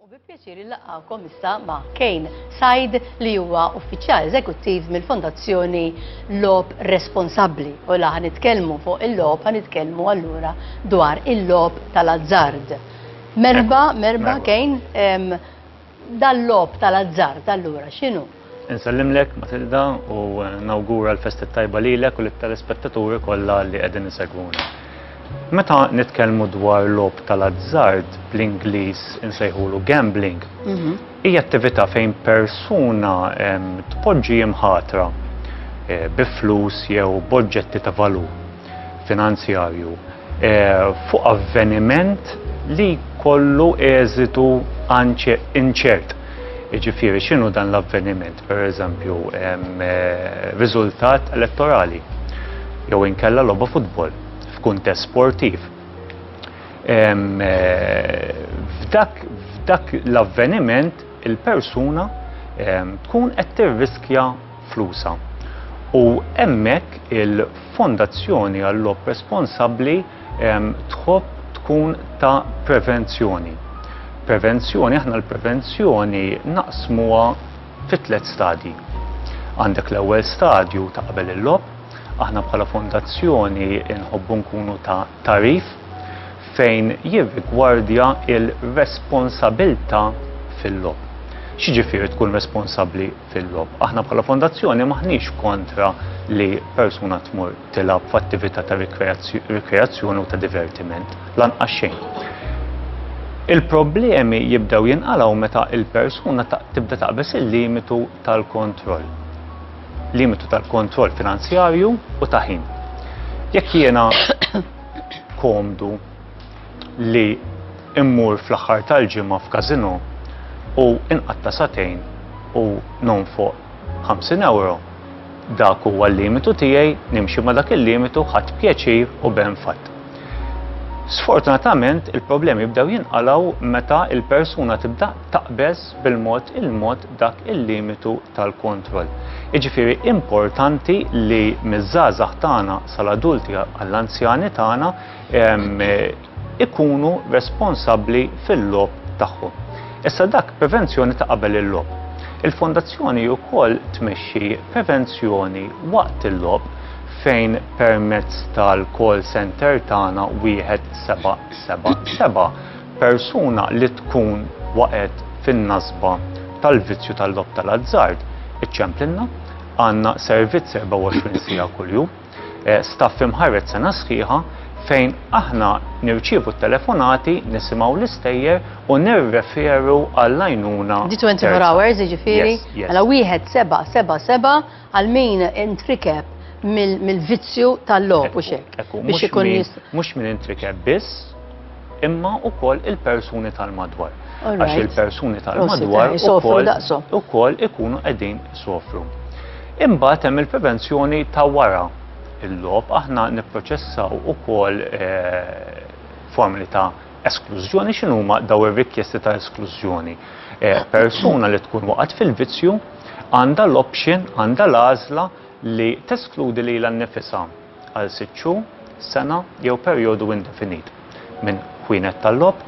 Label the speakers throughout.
Speaker 1: U bi pjaċir illaqgħukom issa ma' Kane Said li huwa uffiċjal eżekuttiv mill-Fondazzjoni Lob Responsabbli. U la nitkellmu fuq il-lob, nitkellmu allura dwar il-lob tal-azzard. Merba, merba Kane, Dal-logħob tal-azzard allura x'inhu? Insellimlek
Speaker 2: Matilda u nawgura l-festi tajba lilek u lit-telespettaturi kollha li qegħdin isegwuna. Meta nitkellmu dwar logħob tal-azzard bl-Ingliż insejħulu gambling, mhm. hija attività fejn persuna tpoġġi imħatra eh, bi flus jew b'oġġetti ta' valur finanzjarju fuq avveniment li jkollu eżitu inċert. Jiġifieri x'inhu dan l-avveniment, pereżempju riżultat elettorali jew inkella logħba futbol f'kuntest sportiv. F'dak f'dak l-avveniment il-persuna tkun qed tirriskja flusha. U hemmhekk il-Fondazzjoni għall-Logħob Responsabbli tħobb tkun ta' prevenzjoni. Prevenzjoni, aħna l-prevenzjoni naqsmuha fi tliet stadji. Għandek l-ewwel stadju ta' qabel il-logħob, aħna bħala fondazzjoni nħobbu nkunu ta' tagħrif fejn jirrigwardja il-responsabilità fil-logħob. X'jiġifieri tkun responsabbli? fil-logħob. Aħna bħala fondazzjoni m'aħniex kontra li persuna tmur tilgħab f'attività ta' rikreazzjoni u ta' divertiment, lanqas xejn. Il-problemi jibdew jinqalgħu meta il-persuna tibda taqbeż il-limitu tal-kontroll. Limitu tal-kontroll finanzjarju u ta' ħin. Jekk jiena komdu li mmur fl-aħħar tal-ġimgħa f'każinò u nqatta' sagħtejn u nonfoq 50 ewro, dak huwa l-limitu tiegħi, nimxi ma' dak il-limitu, ħadt pjaċir u b'hemm fatt. Sfortunatament, il-problemi jibdew jinqalgħu meta l-persuna tibda taqbeż bil-mod il-mod dak il-limitu tal-kontroll. Jiġifieri importanti li miż-żgħażagħ tagħna sal-adulti għall-anzjani tagħna ikunu responsabbli fil-logħob tagħhom. Issa dak prevenzjoni ta' qabel il-logħob. Il-fondazzjoni wkoll tmexxi prevenzjoni waqt il-logħob fejn permezz tal-call center tagħna wieħed seba' seba' seba' persuna li tkun waqgħet fin-nasba tal-vizzju tal-logħob tal-azzard iċċemplilna għandna servizz 24 siegħa kuljum. Staff imħarred sena sħiħa fejn aħna nirċievu t-telefonati, nisimgħu l-istejjer u nirreferu għall-għajnuna terza. Di 24 hours
Speaker 1: jiġifieri? Mela wieħed seba' seba' seba' għal min intrikeb mill-vizzju tal-logħob u x'hekk. Mhux
Speaker 2: min intrikeb biss. imma wkoll il-persuni tal-madwar. Għax il-persuni tal-madwar ukoll ikunu qegħdin sofru. Imbagħad hemm il-prevenzjoni ta' wara il-lob aħna nipproċessaw ukoll eh, formuli ta' esklużjoni x'inhuma daw ir-rikjesti ta' esklużjoni. Eh, persuna li tkun waqgħet fil-vizzju għandha l-option, għandha l-għażla li teskludi lilha nnifisha għal sitt xhur, sena jew perjodu indefinit, minn ħwienet tal-logħob,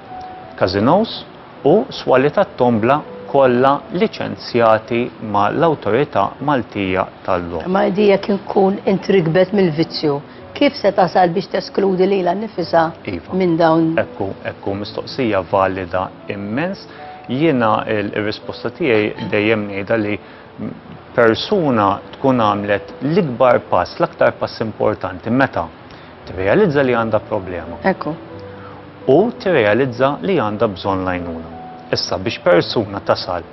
Speaker 2: każinòs u swali tat-tombla kollha liċenzjati ma' l-Awtorità Maltija tal-Logħob. Imma hi di jekk inkun
Speaker 1: intriggbet mill-vizzju, kif se tasal biex teskludi lilha nnifisha Iva. minn dawn? Hekk hu, hekk hu,
Speaker 2: mistoqsija valida immens. Jiena l-risposta tiegħi dejjem ngħidha li persuna tkun għamlet l-ikbar pass, l-aktar pass importanti meta tirrealizza li għandha problema. Ekku.
Speaker 1: U
Speaker 2: tirrealizza li għandha bżonn lajnuna. Issa biex persuna tasal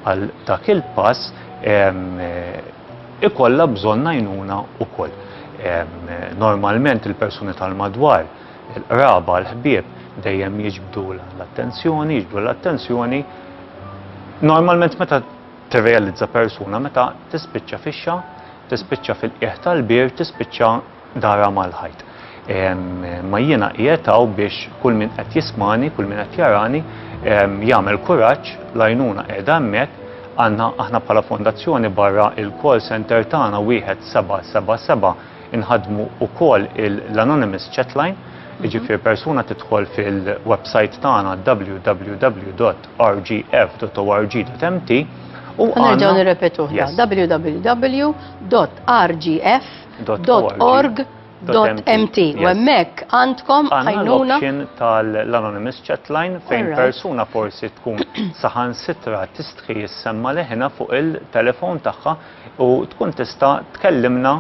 Speaker 2: għal dak il-pass eh, ikolla bżonn lajnuna u koll. Normalment il-persuni tal-madwar, il-qraba, l-ħbieb, dejjem jiġbdu l-attenzjoni, jiġbdu l-attenzjoni. Normalment meta tirrealizza persuna meta tispiċċa fixxa, tispiċċa fil-qiegħ tal-bir, tispiċċa darha mal-ħajt. Ma jiena qiegħed hawn biex kull min qed jismani, kull min qed jarani, jagħmel kuraġġ, lajnuna qiegħda hemmhekk, għandna aħna bħala fondazzjoni barra il-call center tagħna wieħed 777 inħadmu ukoll l-anonymous chatline, jiġifieri persuna tidħol fil-website tagħna www rgf.org.mt u Nerġgħu nirrepetuh
Speaker 1: www.rgf.org .mt u hemmhekk għandkom għajnuna tal-Anonymous
Speaker 2: Chatline fejn persuna forsi tkun saħansitra tistħi jissemma leħinha fuq il-telefon tagħha u tkun tista' tkellimna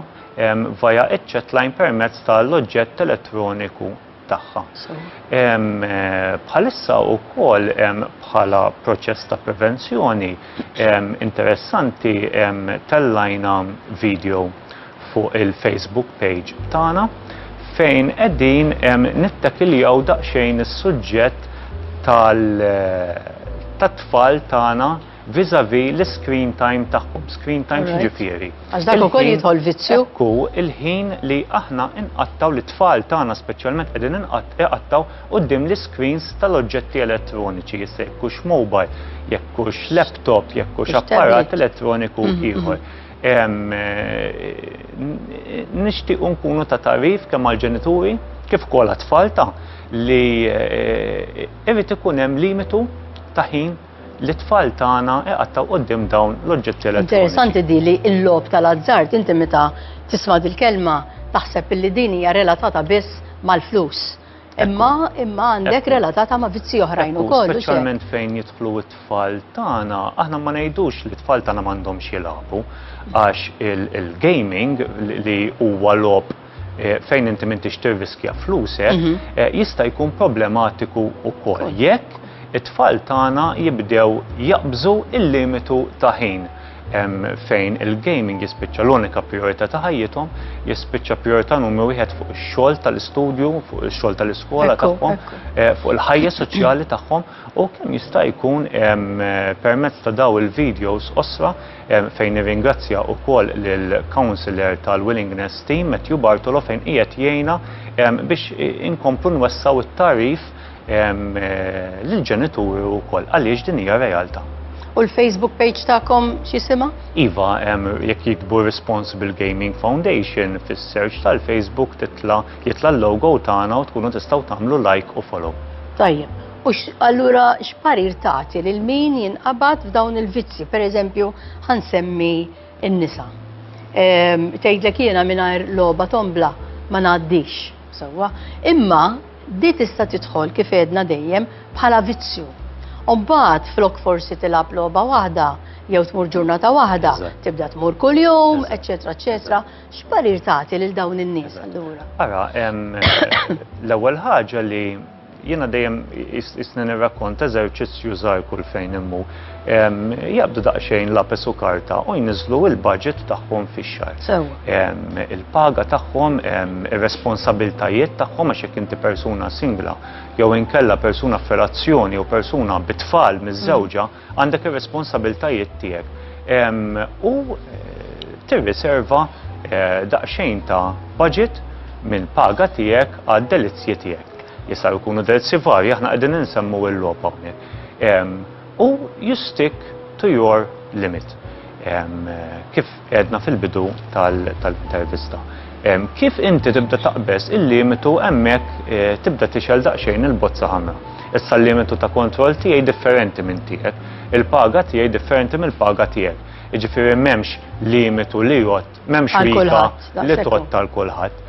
Speaker 2: via ċ-chatline permezz tal-oġġett elettroniku tagħha. Bħalissa wkoll bħala proċess ta' prevenzjoni interessanti tellajna video fuq il-Facebook page tagħna fejn qegħdin nittakiljaw daqsxejn is-suġġett tal-tfal tagħna vis-à-vis l-screen time tagħhom. Screen time Alright. x'ġifieri? Għax dak ukoll Il-ħin- jidħol
Speaker 1: vizzju. Ekku il-ħin
Speaker 2: li aħna inqattaw li tfal tagħna speċjalment qegħdin inqatt- iqattaw quddiem l-iscreens tal-oġġetti elettroniċi, issa jekk hux mobile, jekk hux laptop, jekk hux Hux apparat tablet. elettroniku ieħor. Em, eh, Nixtiequ nkunu ta' tarif kemm għall-ġenituri kif ukoll għat-tfal ta' li eh, irid ikun hemm limitu ta' ħin Lit-tfal tagħna iqattgħu quddiem dawn l-oġġetti elettroniċi. Interessanti di li
Speaker 1: l-logħob tal-azzard inti meta tisma' dil-kelma taħseb illi din hija relatata biss mal-flus. Imma imma għandek relatata ma' vizzi oħrajn ukoll. Speċjalment fejn jidħlu
Speaker 2: t-tfal tagħna, aħna ma ngħidux li t-tfal tagħna m'għandhomx jilagħbu għax il-gaming li huwa logħob Eh, fejn inti m'intix tirriskja flusek, mhm. eh, jista' jkun problematiku wkoll jekk it-tfal tagħna jibdew jaqbżu il-limitu ta' ħin fejn il-gaming jispiċċa l-unika priorità ta' ħajjithom, jispiċċa priorità numru wieħed fuq ix-xogħol tal-istudju, fuq ix-xogħol tal-iskola tagħhom, eh, fuq il-ħajja soċjali tagħhom u kemm jista' jkun permezz ta' daw il-videos osra fejn nirringrazzja wkoll lill-Councillor tal-Willingness Team Matthew Bartolo fejn qiegħed jgħinna biex inkomplu nwessaw it-tagħrif lill-ġenituri wkoll għaliex din hija realtà. U l-Facebook
Speaker 1: page tagħkom x'jisimha? Iva,
Speaker 2: jekk jikbu Responsible Gaming Foundation fis-search tal-Facebook titla' jitla' l-logo tagħna u tkunu tistgħu tagħmlu like u follow. Tajjeb. U
Speaker 1: allura x'parir tagħti lil min jinqabad f'dawn il-vizzji, pereżempju ħansemmi n-nisa. Ehm, tgħidlek jiena mingħajr logħba tombla ma ngħaddix sewwa. Imma di tista' tidħol kif edna dejjem bħala vizzju. Umbagħad flok forsi tilab logħba waħda jew tmur ġurnata waħda, tibda tmur kuljum, eċetera, eċetera. X'parir tagħti lil dawn in-nies allura? Ara, ehm,
Speaker 2: l-ewwel ħaġa li Jiena dejjem isni nirrakkonta eżerċizzju żgħir kull fejn immu. Jaqbdu daqsxejn lapes u karta u jniżżlu l-budget tagħhom fix-xahar. Sewwa. Il-paga tagħhom, ir-responsabbiltajiet tagħhom għax jekk inti persuna singla jew inkella persuna f'relazzjoni jew persuna bi tfal miżżewġa, Għandek ir-responsabiltajiet tiegħek u tirriserva daqsxejn ta' budget mill-paga tiegħek għad-delizzji tiegħek. Jistgħu jkunu delizzji varji, aħna qegħdin insemmu l-logħob hawnhekk. U you stick to your limit. Kif għedna fil-bidu tal-intervista. Kif inti tibda taqbeż il-limitu hemmhekk tibda tixgħel daqsxejn il-bozza ħamra. Issa l-limitu ta' kontroll tiegħi differenti minn tiegħek. Il-paga tiegħi differenti mill-paga tiegħek. Jiġifieri m'hemmx limitu li jgħodd, m'hemmx rika li tgħodd għal kulħadd.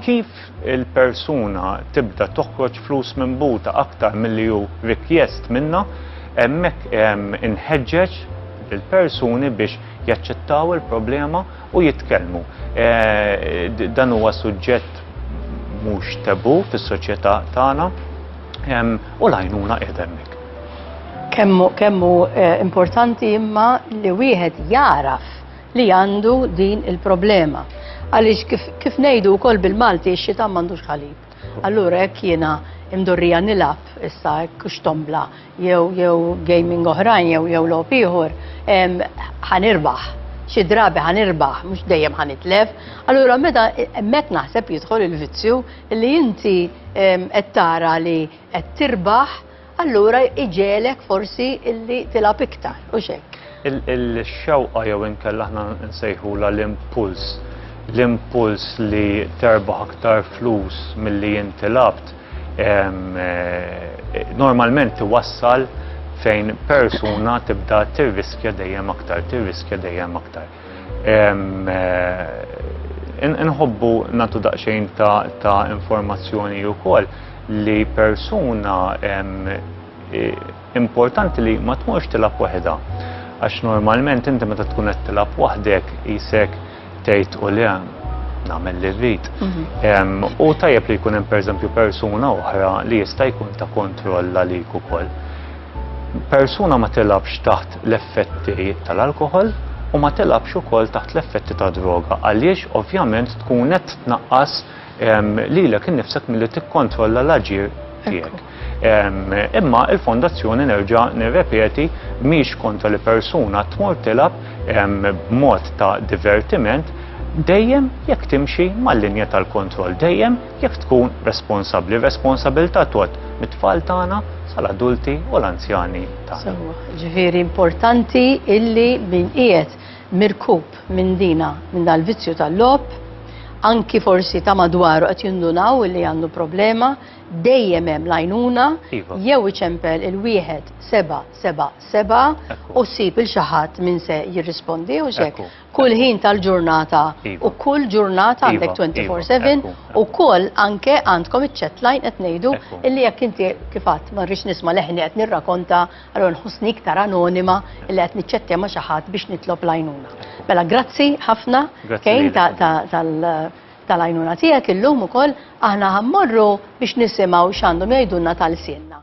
Speaker 2: Kif il-persuna tibda toħroġ flus minn buta aktar milli hu rikjest minnha, hemmhekk inħeġġeġ lill-persuni biex jaċċettaw il-problema u jitkellmu. Dan huwa suġġett mhux taboo fis-soċjetà tagħna u l-għajnuna qiegħda hemmhekk.
Speaker 1: Kemm hu importanti imma li wieħed jagħraf li għandu din il-problema. Għaliex kif, kif ngħidu wkoll bil-Malti x-xitan m'għandux ħalib. Allura hekk jiena imdorrija nilgħab issa hekk x'tombla jew jew gaming oħrajn jew jew logħob ieħor, ħanirbaħ xi drabi ħanirbaħ, mhux dejjem ħanitlef. Allura meta hemmhekk naħseb jidħol il-vizzju li inti qed tara li qed tirbaħ allura jġegħlek forsi illi tilgħab iktar, hux hekk?
Speaker 2: Il-xewqa jew inkella
Speaker 1: aħna
Speaker 2: nsejħulha
Speaker 1: l-impuls,
Speaker 2: l-impuls li terbaħ aktar flus milli inti labt, eh, normalment iwassal fejn persuna tibda tirriskja dejjem aktar, tirriskja dejjem aktar. Inħobbu natu daqsxejn ta' informazzjoni wkoll li persuna importanti li ma tmurx tilab waħedha. Għax normalment inti meta tkun qed tilab waħdek isek tgħid u le nagħmel li rrid. Mhm. U tajjeb li jkun hemm pereżempju persuna oħra li jista' jkun ta' kontroll għalik ukoll. Persuna ma tilgħabx taħt l-effetti tal-alkoħol u ma tilgħabx ukoll taħt l-effetti ta' droga għaliex ovvjament tkun qed tnaqqas ehm, lilek innifsek milli tikkontrolla l-aġir tiegħek. Ehm, imma il-fondazzjoni nerġa' nirrepeti mhix kontra li persuna tmur tilab ehm, b'mod ta' divertiment dejjem jekk timxi mal-linja tal-kontroll dejjem Jekk tkun responsabbli, r-responsabilità tgħodd mit-tfal tagħna sal-adulti u l-anzjani tagħna. Sewwa, ġifieri
Speaker 1: importanti illi min qiegħed mirkub minn dina, minn dal-vizzju tal-logħob, anki forsi ta' madwaru qed jindunaw li għandu problema, dejjem hemm lajnuna, iva. jew iċempel il-wieħed seba' seba' seba' u sib il xaħat minn se jirrispondi u xek. kull ħin tal-ġurnata iva. u kull ġurnata għandek iva, 24/7 iva, u kull anke għandkom iċ-chat line qed ngħidu illi jekk inti kif għadd ma rridx nisma' leħni qed nirrakonta allura nħossni iktar anonima illi qed niċċettja ma' xi ħadd biex nitlob lajnuna. Mela grazzi ħafna kejn tal-għajnuna tiegħek illum ukoll aħna ħammorru biex nisimgħu x'għandhom jgħidulna tal-sienna.